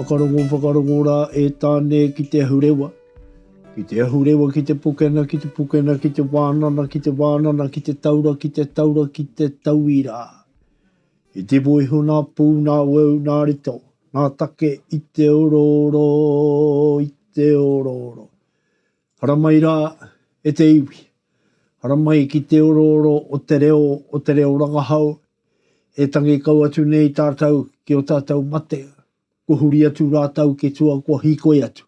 Whakarongo whakarongo rā e Tāne ki te ahurewa, ki te ahurewa ki te pokena ki te pokena ki te wānana ki te wānana ki te taura ki te taura ki te tauirā. I te moeho nā pū nā weu nā rito nā take i te orooro i te orooro. Haramai rā e te iwi. Haramai ki te orooro o te reo, o te reo rangahau, e tangi kau atu nei tātou ki ō tātou mate, kua huri atu rātou ki tua kua hīkoi atu,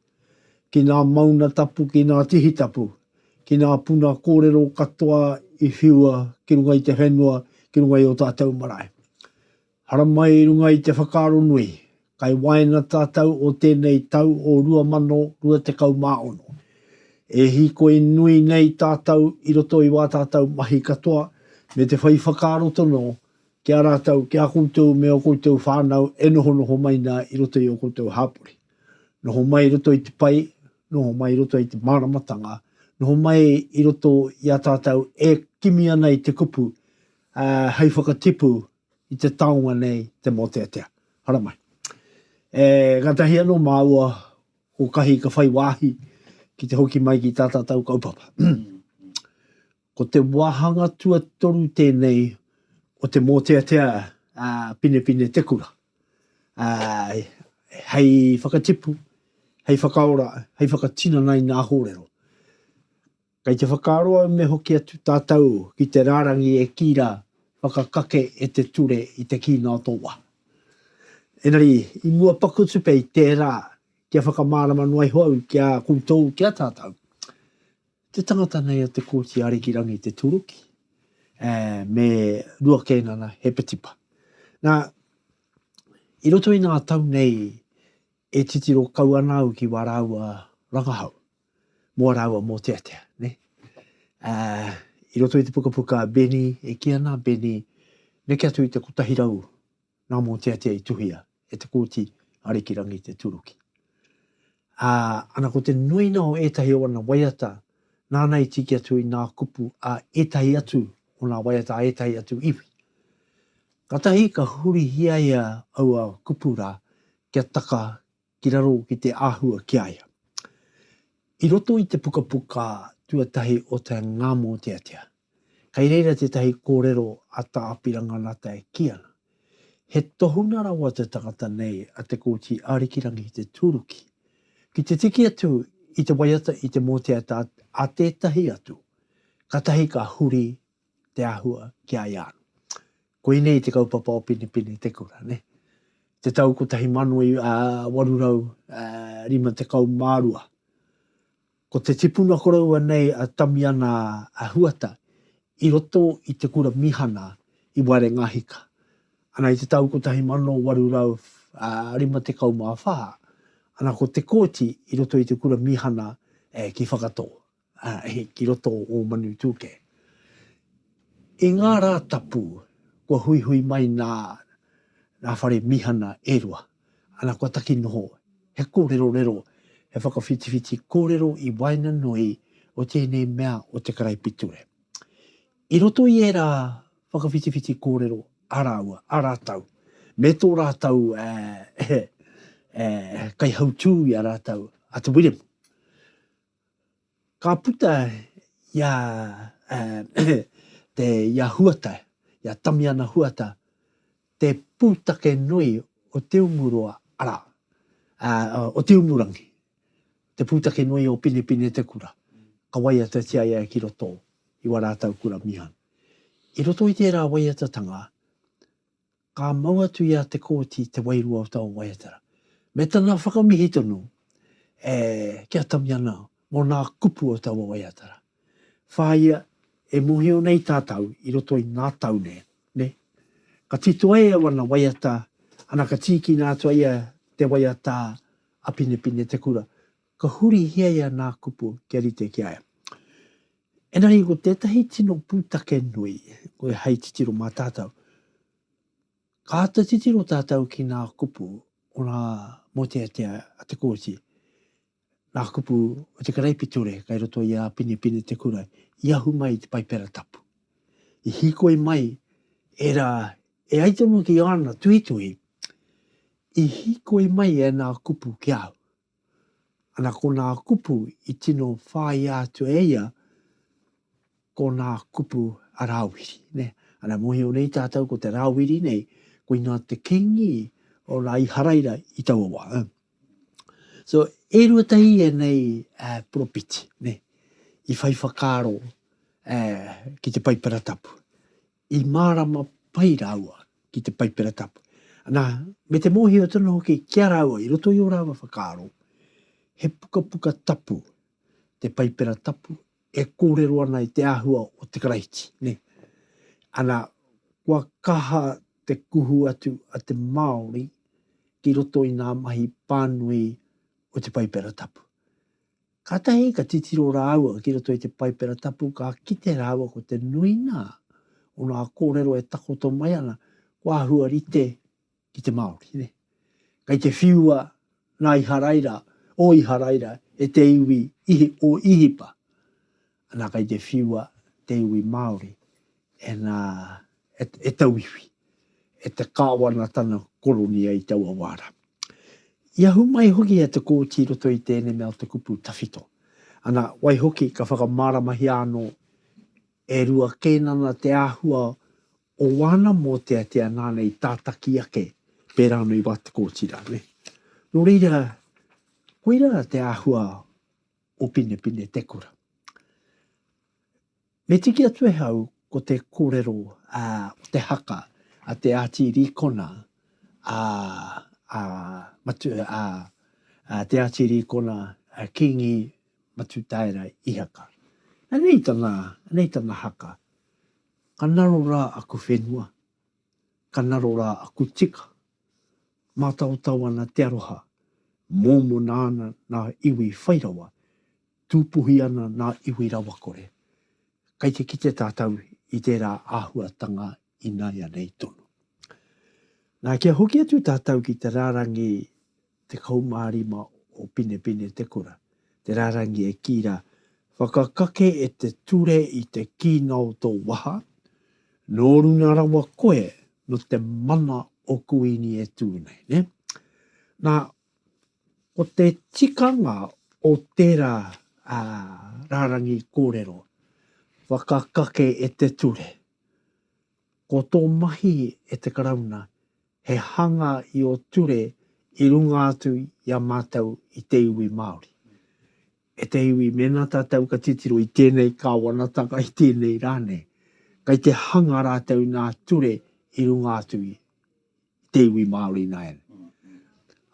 ki nā mauna tapu, ki nā tihi tapu, ki nā puna kōrero katoa i whiua ki runga i te whenua, ki runga i ō tātou marae. Haramai i runga i te whakaaro nui, kai waena tātou o tēnei tau o 2026. E hīkoi nui nei tātou i roto i wā tātou mahi katoa me te whai whakaaro tono ki a rātou, ki a koutou me o koutou whānau e nohonoho mai nā i roto i o koutou hāpori. Noho mai i roto i te pai, noho mai i roto i te māramatanga, noho mai i roto i a tātou e kimi ana i te kupu, ā, hei whakatipu i te taonga nei te mōteatea. Haramai. E gatahi anō māua ko kahi ka whai wāhi ki te hoki mai ki tā tātou kaupapa. ko te wāhanga tuatoru tēnei o te mōteatea a Pinepine Te Kura. A, hei whakatipu, hei whakaora, hei whakatinana i ngā hōrero. Kei te whakaaro au me hoki atu tātou ki te rārangi e kī rā, Whakakake e te ture i te kīnga o tō waha. Engari, i mua paku atu pea i tērā, kia whakamārama noa iho au ki a koutou, ki a tātou, te tangata nei o Te Kooti Arikirangi Te Tūruki, ā, me Ruakēnana Hepetipa. Nā, i roto i ngā tau nei e titiro kau ana au ki wā rāua rangahau. Mō rāua mōteatea, ne? Ā, i roto i te pukapuka a Benny, e kī ana a Benny, neke atu i te kotahi rau ngā mōteatea i tuhia e te Kōti Arikirangi te turuki. Ā, ana ko te nuinga o ētahi o ana waiata, nāna i tiki atu i ngā kupu a ētahi atu o ngā waiata a ētahi atu iwi. Kātahi ka hurihia ia aua kupu rā kia taka ki raro ki te āhua ki a ia. I roto i te pukapuka tuatahi o te Ngāmōteatea, kei reira tētahi kōrero a Tā Apirana Nata e kī ana, He tohunga rawa te tangata nei a Te Kooti Arikirangi Te Tūruki ki te tiki atu i te waiata i te mōteatea a tētahi atu, kātahi ka huri te āhua ki a ia anō. Koinei te kaupapa o Pinepine Te Kura, ne? Te tau 1852. Ko te tipuna koroua nei a Tamiana a Huata i roto i te kura mīhana i Wairengahika. Ana i te tau 1854, ana ko Te Kooti i roto i te kura mīhana ki Whakatō. ki roto o Ō-manu-tūkē. I ngā rā tapu, kua huihui mai nā nā whare mīhana e rua, ana kua taki noho he kōrerorero, he whakawhitiwhiti kōrero i waenganui o tēnei mea o te karaipiture. I roto i ērā whakawhitiwhiti kōrero a rāua, a rātou, me tō rātou kaihautū i a rātou a Te Wiremu, Ka puta i a te i a Huata, i a Tamiana Huata, te pūtake nui o Te Umuroa, arā, o Te Umurangi, te pūtake nui o Pinepinetekura, ka waiatatia ia ki roto i Waratau Kura Mihang. I roto i tērā waiatatanga, Ka mau atu i a Te Kooti te wairua o taua waiatara, me tana whakamihi tonu e ki a Tamiana mō nā kupu o taua waiatara. Whāia, e mōhio nei tātau i roto i ngā tau nē, nē? Ka titoa e au ana waiata, ana ka tīkina atu ai te waiata a Pinepine te kura, Ka hurihia ia nā kupu kia rite ki a ia. Engari ko tētahi tino pūtake nui koe hei titiro mā tātou. Ka āta titiro tātou ki nā kupu o ngā mōteatea a Te Kooti, nā kupu o te Karaipiture kai roto i a Pinepine Te Kurai, i ahu mai i te Paipera Tapu. I hīkoi mai ērā, e ai tonu ki āna tuhituhi, i hīkoi mai ēnā kupu ki a au. Ana ko nā kupu i tino whāia atu e ia, ko nā kupu a Rāwiri, nē. Ana mōhio nei tātou ko te Rāwiri nei, koinā te kīngi o nā Iharaira i taua wā, ā. So, e rua tahi ēnei poropiti, nē, i whai whakaaro ki te Paipera Tapu. I mārama pai rāua ki te Paipera Tapu, nā, me te mōhio tonu hoki ki a rāua i roto i ō rāua whakaaro, he pukapuka tapu te Paipera Tapu e kōrero ana i te āhua o te Karaiti, nē. Ana, kua kaha te kuhu atu a te Māori ki roto i ngā mahi pānui o te Paipera Tapu. Kātahi ka titiro rāua ki roto i te Paipera Tapu ka kite rāua ko te nuinga o ngā kōrero e takoto mai ana ko āhua rite ki te Māori. Nē. Kei te whiua nā Iharaira, o Iharaira e te iwi Ihi, o Ihipa. Ana kai te whiua te iwi Maori e na e tauiwi e te kawanatana koronia i taua wa ra. I ahu mai hoki e te Kooti i roto i tēnei mea o te kupu tawhito. Ana, waihoki ka whakamaramahia ano e rua keinana te ahua o wana moteatea nana i tataki ake pera ano i wa te Kooti ra, ne. No reira, koira te ahua o Pinepine te kura. Me tiki atu e au ko te korero a o te haka a te Ati Rikona a a matu a a te Ati Rikona a Kingi Matutaera Ihaka. Anei tana, anei tana haka. Ka naro ra aku whenua, ka naro ra aku tika, Mātaotao ana te aroha, mōmona ana ngā iwi whai rawa, tūpuhi ana ngā iwi rawakore. Kei te kite tātou i tērā āhuatanga ināianei tonu. Nā, kia hoki atu tātou ki te rārangi Tekau mā rima o Pinepine te kura, te rārangi e kī rā, Whakakake e te ture i te kīnga o tō waha, nō runga rawa koe nō te mana o Kuini e tū nei, nē? Nā, ko te tikanga o tērā rārangi kōrero, Whakakake e te ture, ko tō mahi e te Karauna he hanga i ō ture i runga atu i a mātou i te iwi Māori. E te iwi, mēnā tātou ka titiro i tēnei Kāwanatanga, i tēnei rā nei, kei te hanga rātou nā ture i runga atu i te iwi Māori nāianei.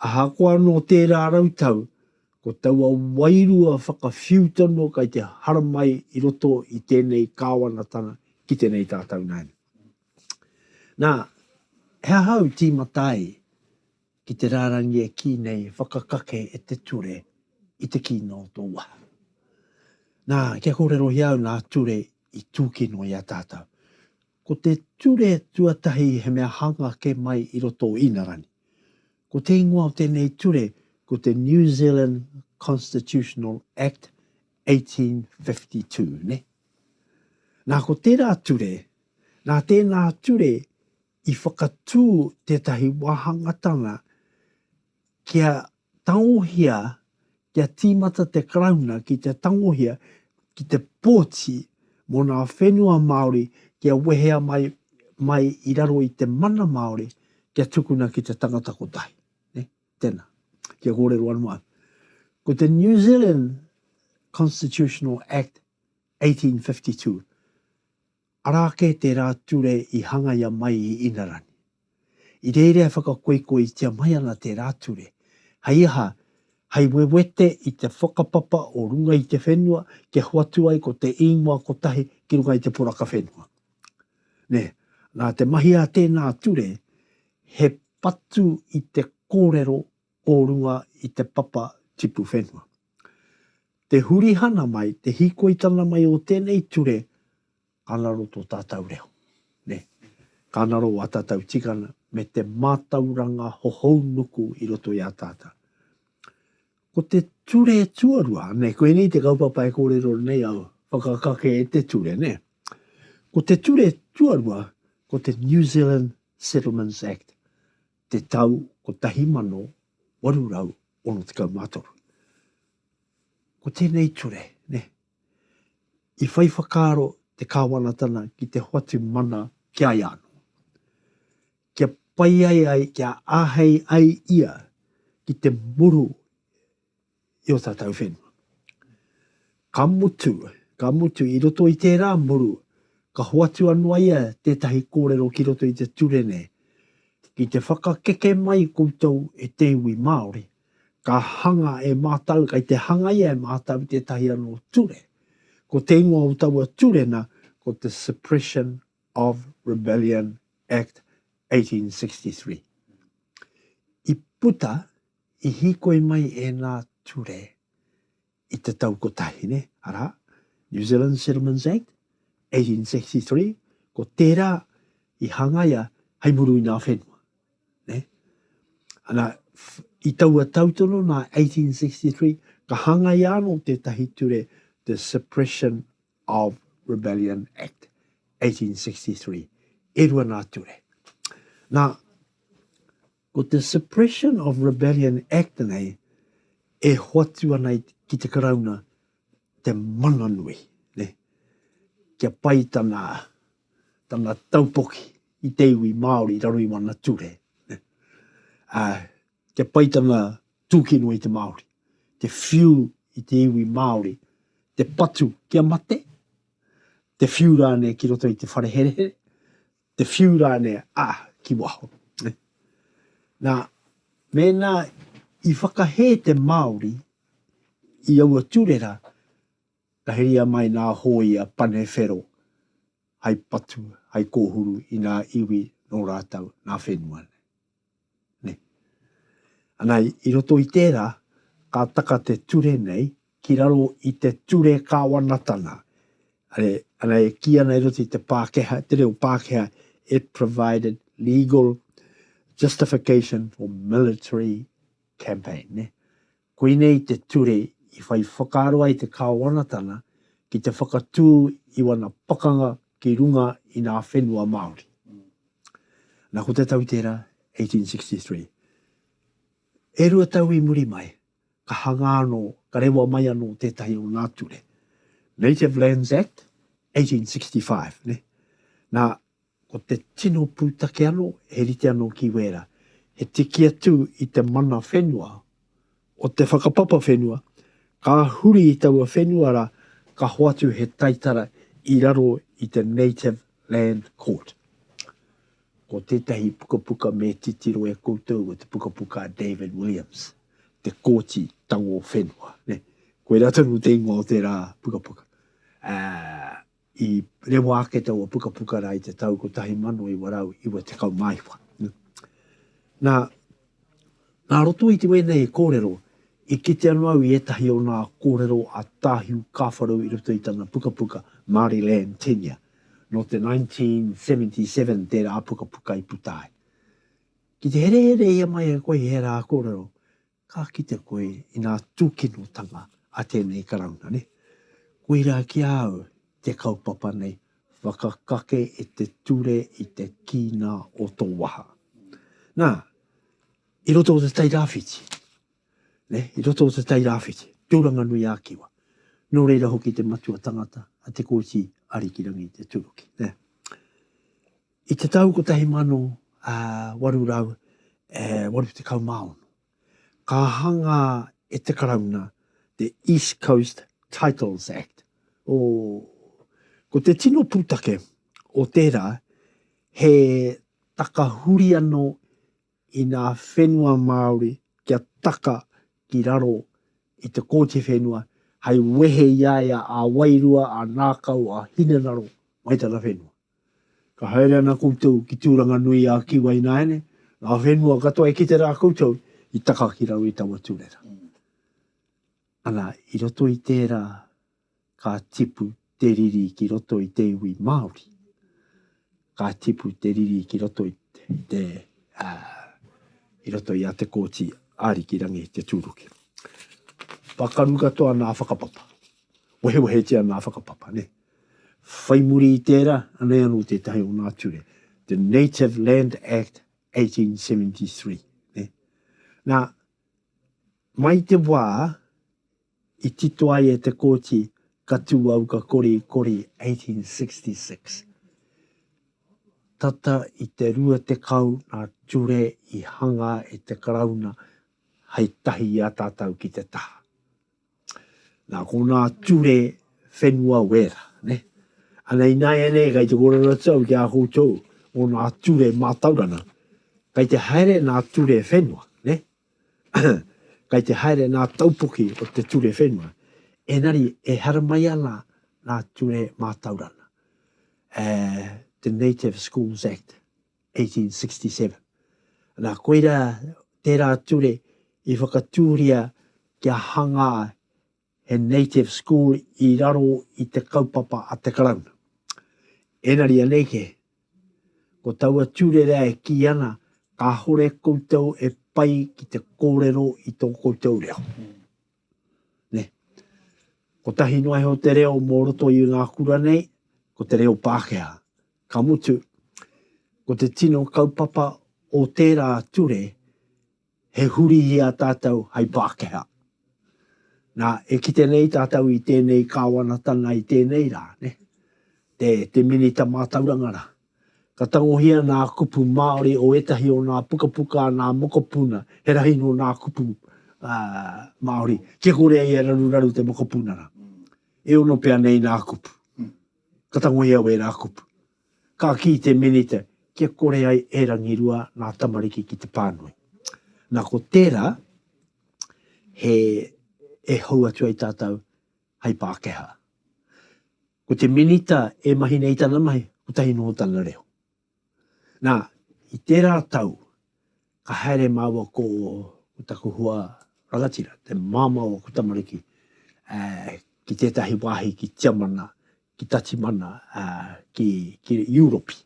Ahakoa anō tērā rau tau, ko taua wairua whakawhiu tonu kei te haramai i roto i tēnei Kāwanatanga ki tēnei tātou nāianei. Nā, he aha au tīmata ai ki te rārangi e kī nei he whakakake e te ture i te kīnga o tō waha? Nā, kia kōrerohia au ngā ture i tūkino i a tātou. Ko te ture tuatahi he mea hanga ake mai i roto o Ingarangi. Ko te ingoa o tēnei ture ko te New Zealand Constitutional Act 1852, nē? Nā, ko tērā ture Nā tēnā ture i whakatū tētahi wāhangatanga kia tangohia, kia tīmata te Karauna ki te tangohia ki te pōti mō ngā whenua Māori kia wehea mai, mai i raro i te mana Māori kia tukuna ki te tangata kotahi. Nē? Tēnā. Kia kōrero anō au. Ko te New Zealand Constitutional Act 1852, Arā kē tērā ture i hangaia mai i Inarani. I reira e whakakoikoitia mai ana tērā ture, hei aha, hei wewete i te whakapapa o runga i te whenua kia hoatu ai ko te īngoa kotahi ki runga i te poraka whenua. Nē, nā te mahi a tēnā ture, he patu i te kōrero o runga i te papa tipu whenua. Te hurihana mai, te hīkoitanga mai o tēnei ture ka ngaro tō tātau reo. Nē. Ka ngaro wā tātau tikanga me te mātauranga hohou nuku i roto i a tātau. Ko te ture tuarua, nē, koinei te kaupapa e kōrero nei au, whakakake e te ture, nē. Ko te ture tuarua, ko te New Zealand Settlements Act. te tau 1863. Ko tēnei ture, nē, i whai whakaaro te Kāwanatana ki te hoatu mana ki a ia anō, kia pai ai ai, kia āhei ai ia ki te muru i o tātou whenua. Ka mutu, ka mutu, i roto i tērā muru, ka hoatu anō ia tētahi kōrero ki roto i te ture nei, ki te whakakeke mai koutou e te iwi Māori, ka hanga e mātou, kai te hangaia e mātou tētahi anō ture. Ko te ingoa o taua ture na, ko te Suppression of Rebellion Act 1863. I puta, I hīkoi mai ēnā ture i te tau kotahi nei, arā, New Zealand Settlements Act, 1863, ko tērā i hangaia hei muru i ngā whenua. Ne? Ana, i taua tau tono nā 1863, ka hangaia anō tētahi ture, the Suppression of Rebellion Act, 1863. E rua nā ture. Nā, Ko te Suppression of Rebellion Act nei e hoatu ana ki te Karauna te mana nui, ne, kia pai tana, tana taupoki i te iwi Māori i raro i wana ture, ne, ā, kia pai tana tūkinua i te Māori, te whiu i te iwi Māori, te patu kia mate, te whiu rānei ki roto i te whare herehere, te whiu rānei, ā, ki waho. Nā, mēnā i whakahē te Māori i aua tūrera, ka heria mai ngā hōia pane whero hai patu, hai kōhuru i ngā iwi nō rātou, ngā whenua nei. Ana, i roto i tērā, ka taka te ture nei ki raro i te ture kāwanatanga. Ana, e kī ana i roto i te Pākehā, te reo Pākehā, it provided legal justification for military campaign. Koinei te ture i whai whakaaro ai te Kāwanatanga ki te whakatū i wana pakanga ki runga i nā whenua Māori. Na, ko te tau tērā, 1863. E rua tau i muri mai, ka hangā anō, ka rewa mai anō tētahi o nā ture, Native Lands Act, 1865, nē? Na, Ko te tino pūtake anō, he rite anō ki Wēra, he tiki atu i te mana whenua o te whakapapa whenua, ka huri i taua whenua rā, ka hoatu he taitara i raro i te Native Land Court. Ko tētahi pukapuka me titiro e koutou ko te pukapuka a David Williams, Te Kōti Tango Whenua. Koirā tonu te ingoa o tērā pukapuka. Ā, I rewa ake taua pukapuka rā i te tau 1994. Nā, nā roto i te wēnei kōrero, i kite anō au i ētahi o nā kōrero a Tāhiu Kāwharau i roto i tana pukapuka Māori Land Tenure, nō te 1977 tērā pukapuka i puta ai. Ki te herehere ia mai e koe i ērā kōrero, Ka kite koe i ngā tūkinotanga a tēnei Karauna, nē? Koirā ki a au te kaupapa nei, whakakake i te ture i te kīnga o tō waha. Nā, i roto o Te Tai Rāwhiti, nē, i roto o Te Tai Rāwhiti, Tūranganui-ā-Kiwa, nō reira hoki te matua tangata a Te Kooti Arikirangi Te Turuki, nē. I te tau 1886, ka hanga e te Karauna te East Coast Titles Act, o, ko te tino pūtake o tērā he takahuri anō i ngā whenua Māori kia taka ki raro i te Kōti Whenua hei wehe i a ia a wairua, a ngākau, a hinengaro mai tana whenua. Ka haere ana koutou ki Tūranga-nui-ā-Kiwa-ināiane, ngā whenua katoa e kite rā koutou i taka ki raro i taua tūrera. Ana, i roto i tērā, ka tipu te riri ki roto i te iwi Māori. Ka tipu te riri ki roto i te, te uh, i roto i a te kōti Ariki Rangi te tūruki. Pakaru katoa nā whakapapa. Wehewehetia nā whakapapa, ne? Whai muri i tērā, anei anō tētahi o nā ture, the Native Land Act 1873. Nā, mai te wā i tito ai e te kōti ka tū au ka kori, kori 1866. Tata i te rua tekau nā ture i hanga e te Karauna hei tahi i a tātau ki te taha. Nā konā ture whenua wera, ne? Ana ināianei kei te kōrero tau ki a koutou mō nā ture mātaurana, kei te haere nā ture whenua, ne? kei te haere nā taupoki o te ture whenua, ēnari e haramai ana nā ture mātaurana, e, te Native Schools Act. 1867. Nā, koirā tērā ture i whakatūria kia hangā he native school i raro i te kaupapa a te Karauna. Engari anei kē, ko taua ture rā e kī ana, kāore koutou e pai ki te kōrero i tō koutou reo. nē. Kotahi noa iho te reo mō roto i ngā kura nei, ko te reo Pākehā. Ka mutu, ko te tino kaupapa o tērā ture, he huri i a tātou hai Pākehā. Nā, e kite nei tātou i tēnei kāwanatanga i tēnei rā, nē, te, te Minita Mātauranga rā, Ka tangohia ngā kupu Māori o ētahi o ngā pukapuka a ngā mokopuna, he rahi nō ngā kupu Māori kia kore ai e raruraru te mokopunara. E ono pea nei ngā kupu. Ka tangohia wērā kupu. Ka kī te Minita kia kore ai e rangirua ngā tamariki ki te pānui. Nā ko tērā he e hou atu ai tātou hei Pākehā. Ko te Minita e mahi nei tana mahi, kotahi noho tana reo. Na, i tera tau, ka haere maua ko taku hua rangatira, te mamao o ko tamariki, ki tetahi wahi ki Tiamana, ki Tatimana, ki Europi.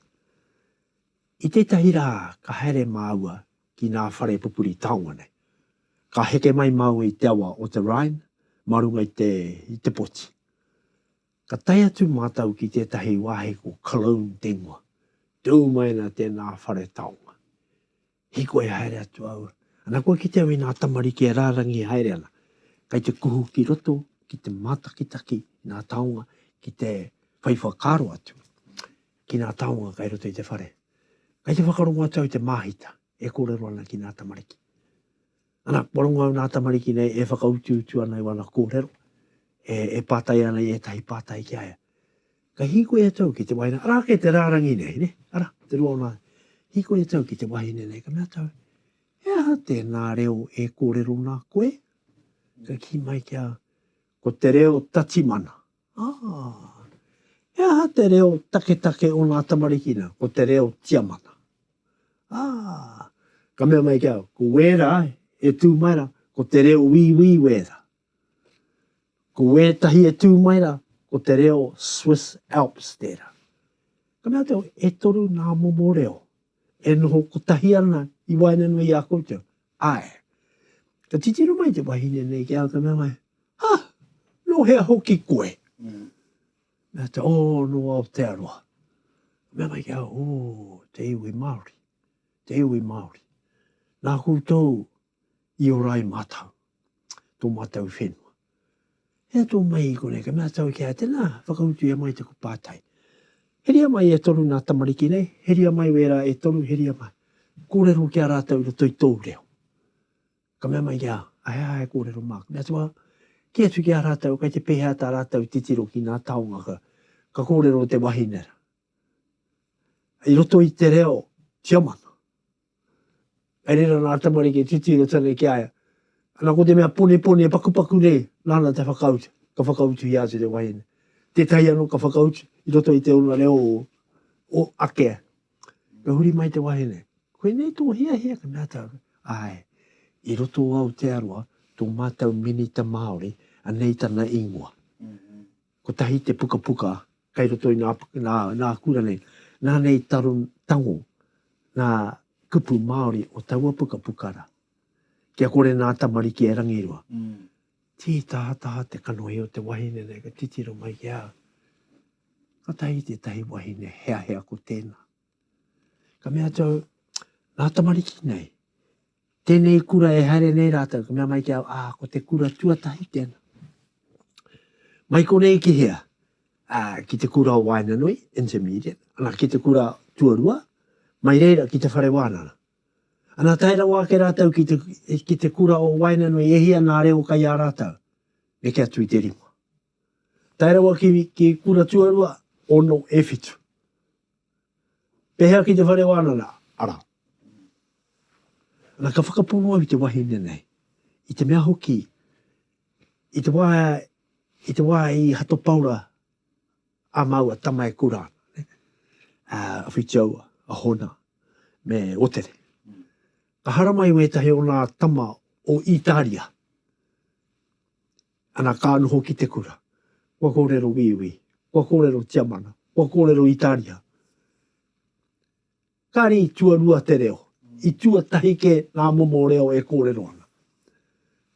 I tetahi ra ka haere maua ki ngā whare pupuri taonga nei. Ka heke mai māua i te awa o te Rhine mā runga i te, i te poti. Ka tae atu mātou ki tētahi wāhi ko Cologne te ingoa. Tū mai ana tēnā whare taonga. Hiko e haere atu au, ana kua kite au i ngā tamariki e rārangi haere ana. Kei te kuhu ki roto, ki te mātakitaki i ngā taonga ki te whai whakaaro atu. ki ngā taonga kai roto i te whare. Kai te whakarongo atu au te māhita e kōrero ana ki ngā tamariki. Ana, kua rongo au nā tamariki nei e whakautuutu ana i wana kōrero, e, e pātai ana i ētahi pātai ki a ia. Kai hīkoi atu au ki te wahine, ara ake te rārangi nei, ne? ara, te rua o nā, hīkoi atu au ki te wahine nei, ka mea atu au, he aha tēnā reo e kōrero nā koe? Ka ki mai ki a, ko te reo tatimana. Aa. He aha te reo taketake o nga tamariki na? Ko te reo Tiamana. Aa. Ka mea mai ki au, Ko wera e tu mai ra, ko te reo Wiiwi wera. Ko wetahi e tu mai ra, ko te reo Swiss Alps tera. Ka mea te au, E toru na momo reo e noho kotahi ana i waenganui i a koutou. Ae. Ka titiro mai te wahine nei ki a Tanawae, Ha! No hea hoki koe? Mea te, Oh, no Aotearoa. Ka mea mai ki a, Oh, te iwi Maori, te iwi Maori. Na koutou i ora ai matau, to matau whenua. Hea tō maihi konei, ka mea tāu ki a, Tēnā, whakautu ia mai taku pātai. Heria mai e toru nā tamariki nei, heria mai wērā e toru, heria mai. Kōrero ki a rātou i roto i tōu reo. Ka mea mai ki a, Ahe aha e kōrero māku? Mea atu a, Kī atu ki a rātou, kei te pēhea tā rātou titiro ki ngā taonga ka, ka kōrero te wahine rā. I roto i te reo tiamana. Kei reira nā tamariki e titiro tana ki a ia. Ana ko te mea ponepone e pakupaku nei, nāna te whakautu, ka whakautuhia atu te wahine. Tētahi anō ka whakautu i roto i te ora reo o, o ake. Ka huri mai te wahine. Koinei tō hiahia, ka mea tāna. Āe, i roto o Aotearoa, tō mātou minita Māori, anei tana ingoa. Kotahi te pukapuka kei roto i nā, nā, nā kura nei. Nā nei taro, tango ngā kupu Māori o taua pukapuka rā. Kia kore nā tamariki e rangirua. Mm. Tī tahataha te kanohi o te wahine nei ka titiro mai ki a au. Kotahi tētahi wahine heahea ko tēnā. Ka mea atu au, Ngā tamariki nei, tēnei kura e haere nei rātou, ka mea mai ki au, ā, ko te kura tuatahi tēnā. Mai konei ki hea? Ā, ki te kura o Waenganui, intermediate, ana, ki te kura tuarua, mai reira ki te whare wānanga. Ana, tae rawa ake rātou ki te, ki te kura o Waenganui, e hia ngā reo kai a rātou? Neke atu i te rima. Tae rawa ki, ki kura tuarua, ono e whitu. Pehea ki te whare wānanga? Ara. Ana, ka whakapono au i te wahine nei, i te mea hoki, i te wā, i te wā i Hato Paora a māua tama e kura ana, a Whitiaua, a Hona, me Otere. Ka haramai wētahi o nā tama o Itaria. Ana ka noho ki te kura. Kua korero Wīwī. Kua korero Tiamana. Kua korero Itaria. Kare i tuarua te reo. I tuatahi ke nga momo reo e korero ana.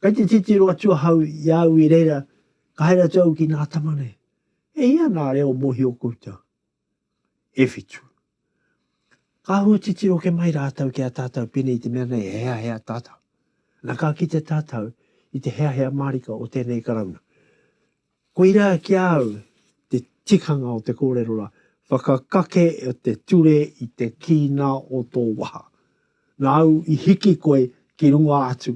Kai te titiro atu ahau i a au i reira, ka haere atu au ki nga tama nei, E hia nga reo mohio koutou? e whitu. Ka hua titiro ke mai rātou ki a tātou pēnei i te mea nei e heahea tātou. Na ka kite tātou i te heahea mārika o tēnei Karauna. Koirā ki a au te tikanga o te kōrero rā, whakakake o te ture i te kīnā o tō waha. Nāu i hiki koe ki runga atu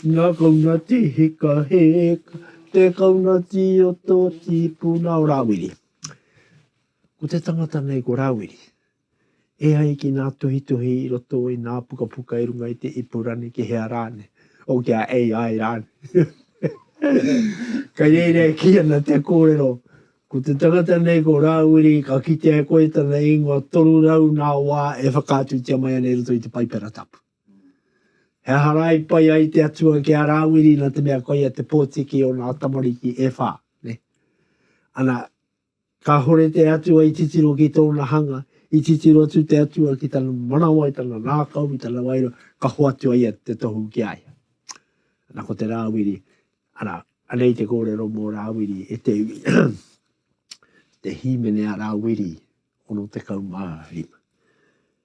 Nga kaunati hika hika Te kaunati o to tipuna o Rawiri Ko te tangata nei ko Rawiri E ai ki nga tuhituhi i roto i nga pukapuka i runga i te ipurani ki hea rane o ki a AI rane Kai reira e ki ana te korero Ko te tangata nei ko Rawiri ka kitea e koe tana ingoa 300 nga wa e whakaatutia mai ana i roto i te Paipera Tapu. He aha rā i pai ai te Atua ki a Rāwiri nā te mea koia te pōtiki o ngā tamariki e whā, nē? Ana, kāhore te Atua i titiro ki tōna hanga, i titiro atu te Atua ki tana manawa, i tana ngākau, i tana wairua, ka hoatu a ia te tohu ki a ia. Ana, ko te Rāwiri, ana, anei te kōrero mō Rāwiri, e te iwi, te hīmene a Rāwiri, 65.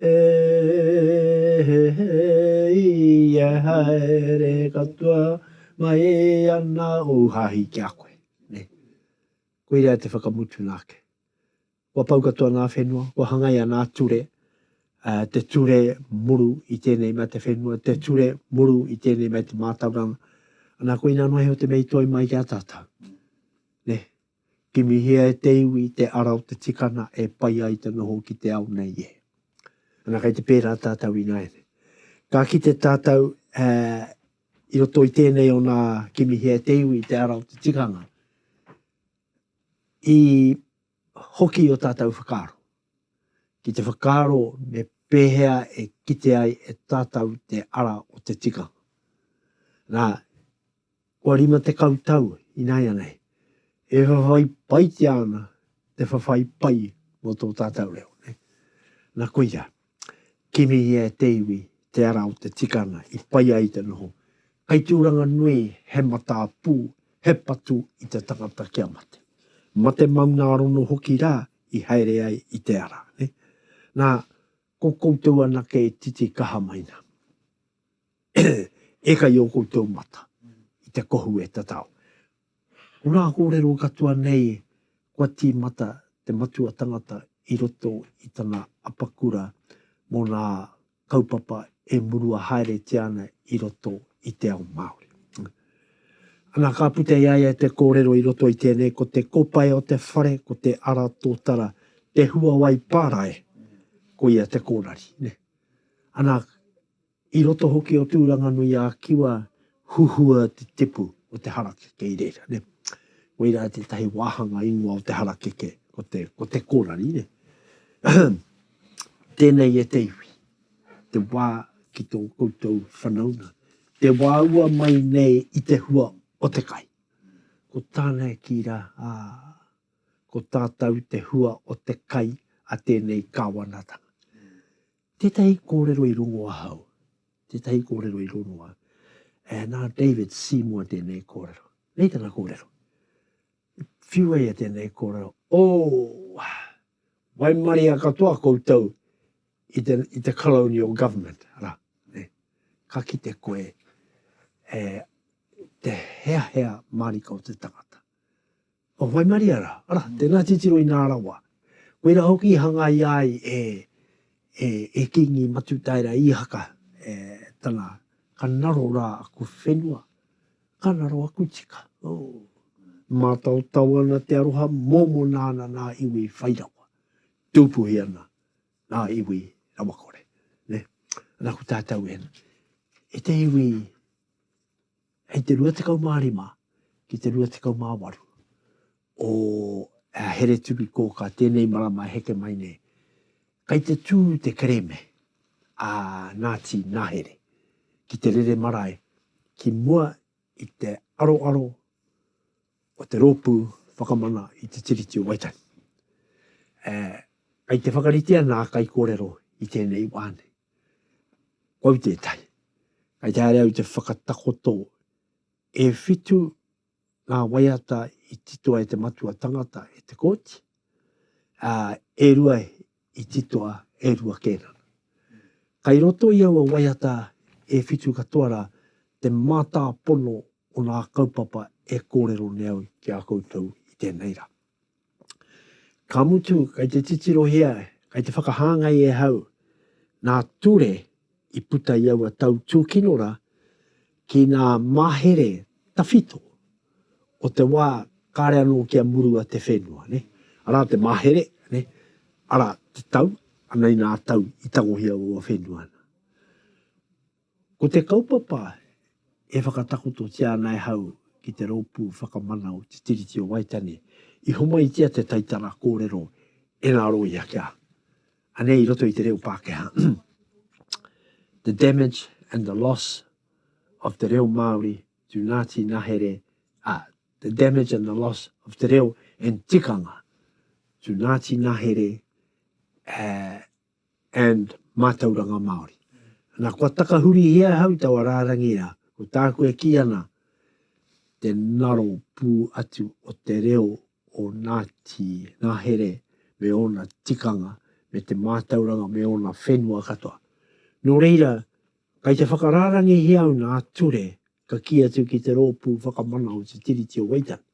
E he he i e haere katoa mai ana ou hahi ki a koe. Koirā te whakamutuna ake. Kua pau katoa ngā whenua, kua hangaia ngā ture, te ture muru i tēnei mea te whenua, te ture muru i tēnei mea te mātauranga. Ana koina noa iho te mea i toe mai ki a tātou. Kimihia e te iwi te ara o te tikana e pai ai te noho ki te ao nei e. Ana kei te pērā tātou ināianei. Ka kite tātou e, i roto i tēnei o nā Kimihia e te iwi te ara o te tikanga, i hoki o tātou whakaaro. Ki te whakaaro me pēhea e kite ai e tātou te ara o te tikanga. Nā, Kua rima tekau tau inaianei e whawhai paitia ana te whawhai pai mō tō tātau reo. Na koia, kimihia e te iwi te ara o te tikanga i pai ai te noho, kai tūranga nui he matā pū, he patu i te tangata kia mate. Mate maunārono hoki rā i haere ai i te ara. Na, ko koutou anake e titi kaha mai na. Eka i o koutou mata, i te kohu e tatao. Ko ngā kōrero katoa nei kua tīmata te matua tangata i roto i tana apakura mō ngā kaupapa e murua haeretia ana i roto i te ao Māori. Ana ka puta i a ia te kōrero i roto i tēnei ko te kopae o te whare, ko te ara tōtara, te huawai pārae, ko ia te kōrari. Ana I roto hoki o Tūranganui-ā-Kiwa huhua te tipu o te harakeke i reira, nē. Koirā tētahi wāhanga ingoa o te harakeke, ko te, ko te kōrari, nē. Ahem. Tēnei e te iwi, te wā ki tō koutou whanaunga, te wāua mai nei i te hua o te kai. Ko tāna e kī rā, Ā, ko tātou te hua o te kai a tēnei kāwanatanga. Tētahi kōrero i rongo ahau, tētahi kōrero i rongo au, ā, nā David Seymour tēnei kōrero. Nei tana kōrero. Whiua ia tēnei kōrero, O, waimaria katoa koutou i te, i te colonial government, arā, nei, ka kite koe e te heahea mārika o te tangata. Kua waimaria rā, arā, tēnā titiro inā rawa. Koirā hoki i hangaia ai e, e, e Kīngi Matutaera Īhaka, e, tana, ka naro rā aku whenua, ka naro aku tika, oh. Mātaotao ana te aroha, mōmona ana nā iwi whai rawa, tūpuhi ana nā iwi rawakore, nē. Nā, ko tātou e, e te iwi, Hei te 25 ki te 28 o Aheretovikōkā tēnei marama e heke mai nei, kei te tū te kerēme a Ngāti Nahere ki te rere marae ki mua i te aroaro o te rōpū whakamana i te Tiriti o Waitangi. Kei te whakaritea ngā kaikōrero i tēnei wā nei. Kau tētahi. Kei te haere au te whakatakoto e whitu ngā waiata i titoa e te matua tangata e te kōti, ā, e rua i titoa e Rua Kērana. Kei roto i aua waiata e whitu katoa rā te mātāpono o ngā kaupapa e kōrero nei au ki a koutou i tēnei rā. Ka mutu, kei te titirohia, kei te whakahāngai e hau ngā ture i puta i aua tau tūkinora ki ngā mahere tawhito o te wā kāre anō kia murua te whenua. Arā te mahere, arā te tau, anei ngā tau i tangohia aua whenua. Ko te kaupapa e whakatakototia ana e hau ki te Rōpū Whakamana o Te Tiriti o Waitangi, i homaitia te taitara kōrero e ngā rōia kia, anei i roto i te reo Pākehā, The damage and the loss of te reo Māori to Ngāti Nahere, ā, The damage and the loss of te reo and tikanga to Ngāti Nahere, ā, and Mātauranga Māori. Nā, kua takahurihia ahau taua rārangi rā, ko tāku e kī ana, te ngaro pū atu o te reo o Ngāti Ngahere me ōna tikanga, me te mātauranga, me ōna whenua katoa. Nō reira, kei te whakarārangihia au nā Ture ka kī atu ki te Rōpū Whakamana o Te Tiriti o Waitangi,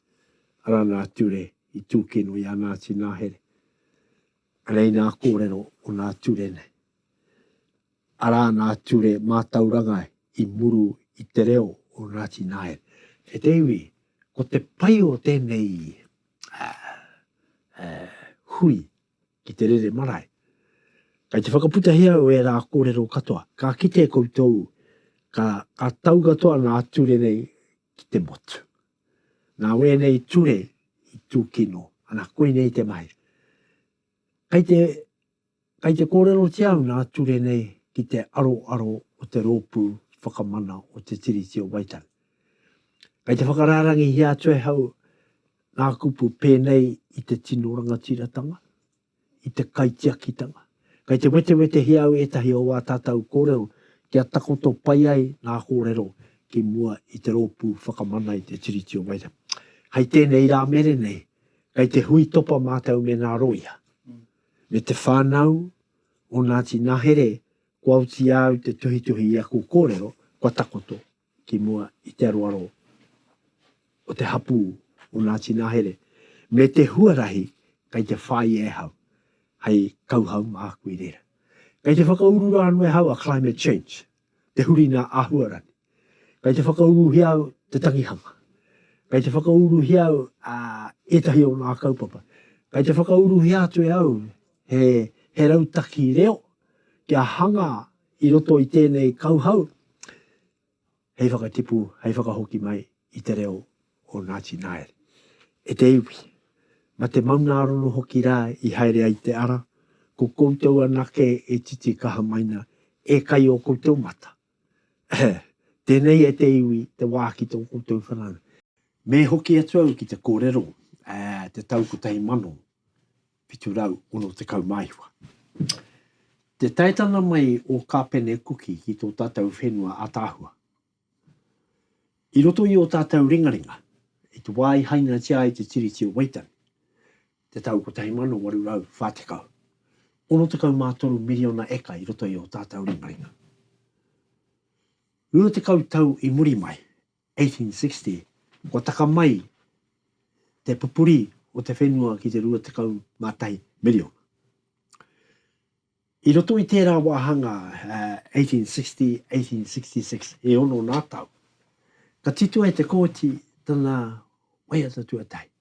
arā nā Ture i tūkino i a Ngāti Ngahere. Anei ngā kōrero o ngā ture nei. Arā ngā ture mātauranga i muru i te reo o Ngāti Nāiere. E te iwi, ko te pai o tēnei hui ki te rere marae, kei te whakaputahi au e ērā kōrero katoa, ka kite koutou ka tau katoa ngā ture nei ki te motu. Nā wēnei ture i tūkino. Ana, koinei te mahi. Kei te, kei te kōrerotia au nā ture nei ki te aroaro o te Rōpū Whakamana o Te Tiriti o Waitangi. Kei te whakarārangihia atu ahau ngā kupu pēnei i te tino rangatiratanga, i te kaitiakitanga. Kei te wetewetehia au ētahi o ā tātou kōrero kia takoto pai ai ngā kōrero ki mua i te Rōpū Whakamana i te Tiriti o Waitangi. Hei tēnei rā mere nei, kei te hui topa mātou me ngā rōia, me te whānau o Ngāti Nahere kua oti au te tuhituhi i aku kōrero, kua takoto. ki mua i te aroaro o te hapū o Ngāti Nahere, me te huarahi kei te whāia e hau hei kauhau māku i reira. Kei te whakauru rā anō e hau a Climate Change, te huri nā āhuarani. Kei te whakauruhia au te tangihanga. Kei te whakauruhia au a ētahi o ngā kaupapa. Kei te whakauruhia atu e au he, he rautaki reo kia hanga I roto i tēnei kauhau, hei whakatipu, hei whakahoki mai i te reo o Ngāti Naere. E te iwi, ma te maungārono hoki rā i haere ai te ara, ko koutou anake e titikaha maina, e kai o koutou mata. Tēnei e te iwi te wā ki tō koutou whanaunga. Me hoki atu au ki te kōrero, te tau kotahi mano, 760 māiwa. Te taetana mai o Kāpene Kuki ki tō tātou whenua ataahua. I roto i ō tātou ringaringa, i te wā i hainatia ai te Tiriti o Waitangi, te tau 1840, 63 miriona eka i roto i ō tātou ringaringa. Rua tekau tau i muri mai, 1860, kua taka mai te pupuri o te whenua ki te 21 miriona. I roto i tērā wāhanga 1860, 1866, e ono ngā tau, ka titohe te Kōti tana waiata tuatahi.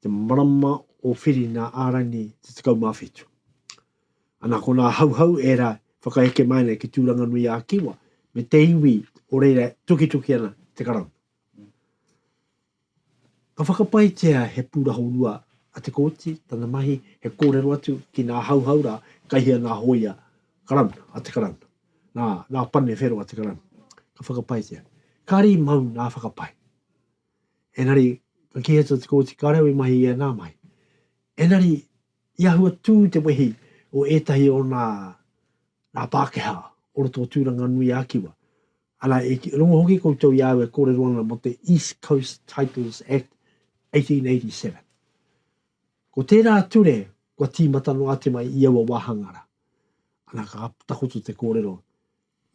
te marama o Whirina ā-rangi te 17. Ana ko nā Hauhau ērā whakaheke mai ana ki Tūranganui-ā-Kiwa me te iwi o reira tukituki ana te Karauna. Ka whakapaetia he pūrahorua a Te Kooti, tana mahi he kōrero atu ki nā Hauhau rā, kai hea nā hōia Karauna, a te Karauna, nā, nā Pane Whero a te Karauna. Ka whakapaetia. Kāre i mau nā whakapae. Engari, ka kī atu te Kōti Kairau i mahi i ēnā mahi. Engari, i ahua tū te wehi o ētahi o nā, nā Pākehā o roto o Tūranga nui a Kiwa. Ana, e rongo hoki koutou i a au e kōrero ana mō te East Coast Titles Act 1887. Ko tērā ture kua tīmata noa atu mai i aua wāhanga rā. Ana, ka takoto te kōrero.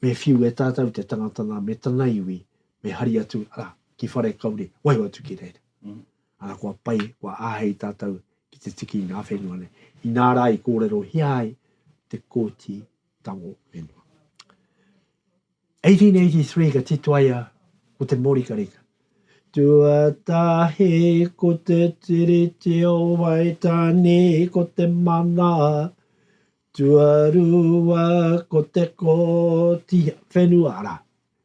Me whiu e tātou te tangata nā, me tana iwi, me hari atu, arā, ki Wharekauri, waho atu ki reira. Arā, kua pai, kua āhei tātou ki te tiki i ngā whenua nei, inā rā i kōrerohia ai te Kōti Tango Whenua. 1883 ka titoaia ko te mōrikarika. Tuatahi ko te Tiriti o Waitangi, ko te mana, Tuarua ko te koti whenua, ara,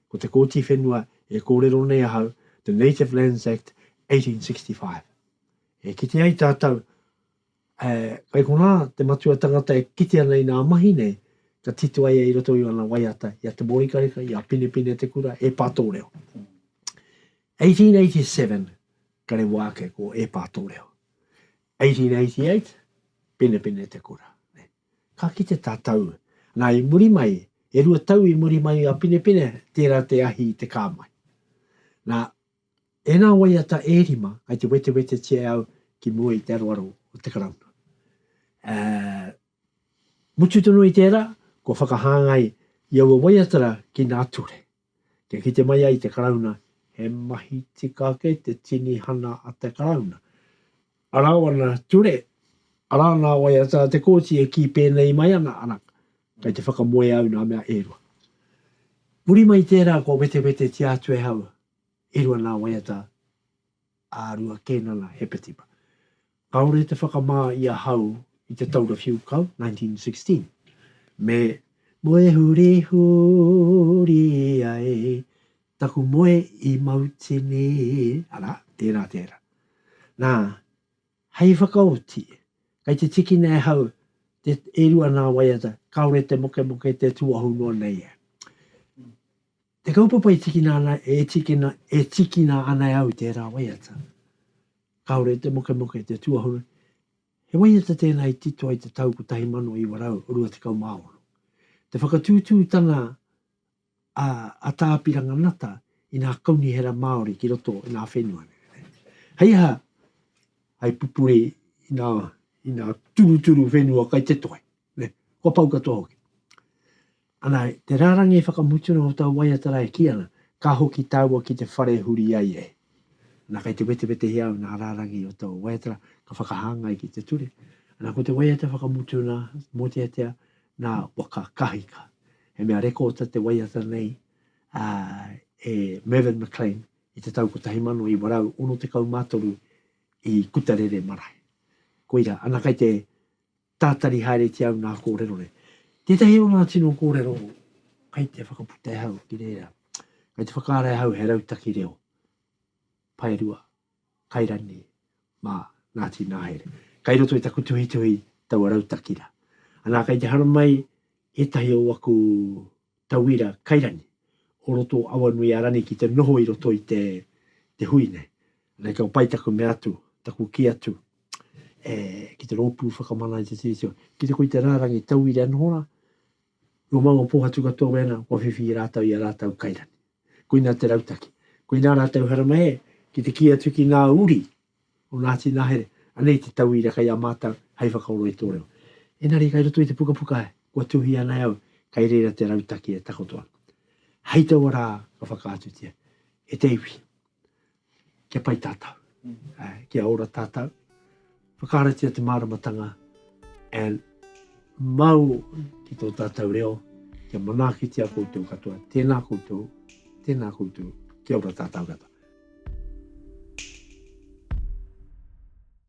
ko te koti whenua e kōrero nei ahau, the Native Lands Act 1865. E kite ai tātou, e, kai konā te matua tangata e kite ana i nā mahi nei, ka tito ai i roto i ana waiata, i a Te Morikareka, i a Pinepine Te Kura, e Pā Tōreo. 1887, kare wā ake ko e Pā Tōreo. 1888, penepene te kura. Ka kite tā Tau, nā i muri mai, e rua tau i muri mai a Penepene, tērā te ahi i te kā mai. Nā, ēnā waiata e rima kai te wetewetetia e au ki mua i te aroaro o te Karauna. Ā, mutu tonu i tērā, kua whakahāngai i aua waiata rā ki nā ture. Kia kite mai ai te Karauna he mahi tika ake te tinihana a te Karauna. Arā wana ture, arā nā waiata a te Kōti e kī pēnei mai ana, arā, kei te whakamoe au nā mea e rua. Muri mai i tērā kua wetewetetia atu e hau, e rua nā waiata. a Rua Kenana Hepetipa. Kaore te whakamā i ahau i te taura whiu kau, 1916, me Moehurihu uri ai taku moe i Mautini, arā, tērā, tērā. Nā, hei whakaoti, kei te tikina e hau te, e rua nā waiata, kaore te mokemoke te tuahu noa nei e. Te kaupapa e tikina ana, e tikina, e tikina ana e au i tērā waiata. Kāore te mokemoke, te tuahuru, he waiata tēnā i tito ai te tau 1928. Te whakatūtūtanga a, a Tā Apiranga Ngata i nā kaunihera Māori ki roto i nā whenua nei. Hei aha, hai pupuri i nā, i nā turuturu whenua kai te toi. Kua pau katoa hoki. Ana, te rārangi whakamutunga o tau waiata rā e kī ana, Ka hoki tāua ki te whare e huri ai e. Ana, kei te wetewetehia au nā rārangi o tau waiata rā, ka whakahāngai ki te ture. Ana, ko te waiata whakamutunga, mōteatea, nā waka kahika. He mea rekōta te waiata nei a e Mervyn McLean i te tau 1963 i Kutarere marae. Koira, ana, kei te Tātari haere ki au ngā kōrero nei. Tētahi o ngā tino kōrero kai te whakaputa e hau ki reira, kai te whakaara e hau he rautaki reo, paerua, kai rani, mā, Ngāti Nāhere. Kai roto i taku tuhituhi taua rautaki ra. Anā, kai te haramai ētahi o aku tauira kairangi o roto o Awanuiārani ki te noho i roto i te te hui nei. Anei kua pai taku mea atu, taku kī atu e ki te rōpū whakamana i te Tiriti o. Ki te koi te rārangi tauira e noho rā, nō māua pōhatu katoa wēnā kua whiwhi i rātau i a rātau kairangi. Koinā te rautaki. Koinā rātau haramai e, ki te kī atu ki ngā uri o Ngāti Nahere, anei te tauira kei a mātou hei whakaoro i tō reo. Engari kai roto i te pukapuka kua tuhia nei au, kai reira te rautaki e takoto ana. Hei taua rā ka whakaatutia, e te iwi, kia pai tātou, kia ora tātou, whakaratia te māramatanga and Mau ki tō tātou reo, kia manaakitia koutou katoa. Tēnā koutou, tēnā koutou, kia ora tātou katoa.